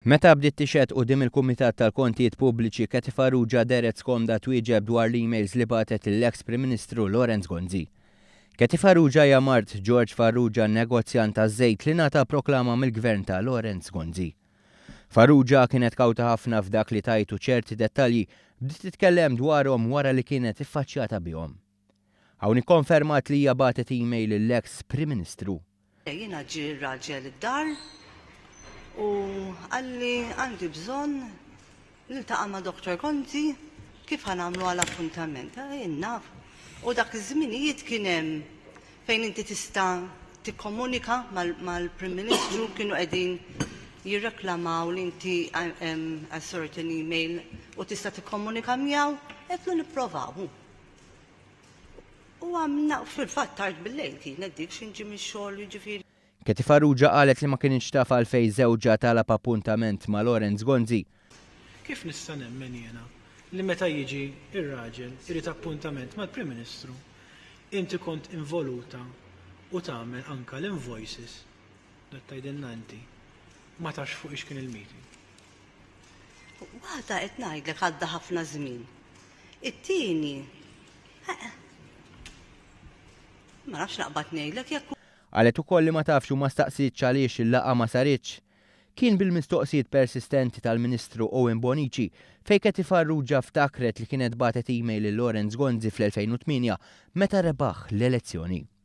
Meta bdiet tixhed quddiem il-Kumitat tal-Kontijiet Pubbliċi, Kathy Farrugia dehret skomda twieġeb dwar l-emails li bagħtet lill-eks Prim Ministru Lawrence Gonzi. Kathy Farrugia hija mart George Farrugia, negozjant taż-żejt li ngħata proklama mill-Gvern ta' Lawrence Gonzi. Farrugia kienet kawta ħafna f'dak li tgħid u ċerti dettalji bdiet titkellem dwarhom wara li kienet iffaċċjata bihom. Hawn ikkonfermat li hija bagħtet email lill-eks Prim Ministru. Jiena ġie r-raġel id-dar u qalli għandi bżonn niltaqa' ma' Doctor Conti kif ħa nagħmlu għal appuntament. Jien naf u dak iż-żminijiet kien hemm fejn inti tista' tikkomunika mal-Prim Ministru kienu qegħdin jirreklamaw li inti għal certain email u tista' tikkomunika miegħu qedtlu nipprovaw. U għamna fil-fatt tard bil-lejl kienet dik xi nġi mix-xogħol jiġifieri. Katie Farrugia qalet li ma kinitx taf għalfejn żewġha talab appuntament ma' Lawrence Gonzi. Kif nista' nemmen jiena li meta jiġi r-raġel irid appuntament mal-Prim Ministru, inti kont involuta u tagħmel anke l-invoices, dat tgħidilna inti, ma tafx fuqiex kien il-meeting. Waħda qed ngħidlek għadda ħafna żmien. It-tieni. Ma nafx naqbad ngħidlek jekk Qalet ukoll li ma tafx u ma staqsietx għaliex il-laqgħa ma saritx. Kien bil-mistoqsijiet persistenti tal-Ministru Owen Bonnici fejn Kathy Farrugia ftakret li kienet bagħtet email lil Lawrence Gonzi fl-2008 meta rebaħ l-elezzjoni.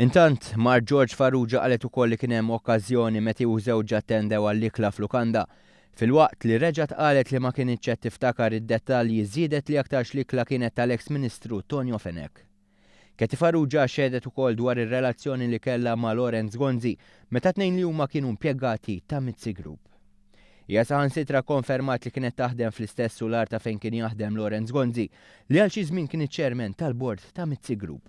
Intant, mart George Farrugia qalet ukoll li kien hemm okkażjoni met hi u żewġha attendew għall-ikla f'lukanda. Filwaqt li reġgħet qalet li ma kinitx qed tiftakar id-dettalji żiedet li aktarx l-ikla kienet tal-eks Ministru Tonio Fenech. Katie Farrugia xehdet ukoll dwar ir-relazzjoni li kellha ma' Lawrence Gonzi meta t-tnejn li huma kienu impjegati ta' Mizzi Group. Hija saħansitra kkonfermat li kienet taħdem fl-istess sularta fejn kien jaħdem Lawrence Gonzi li għal xi żmien kien iċ-Chairman tal-Bord ta' Mizzi Group.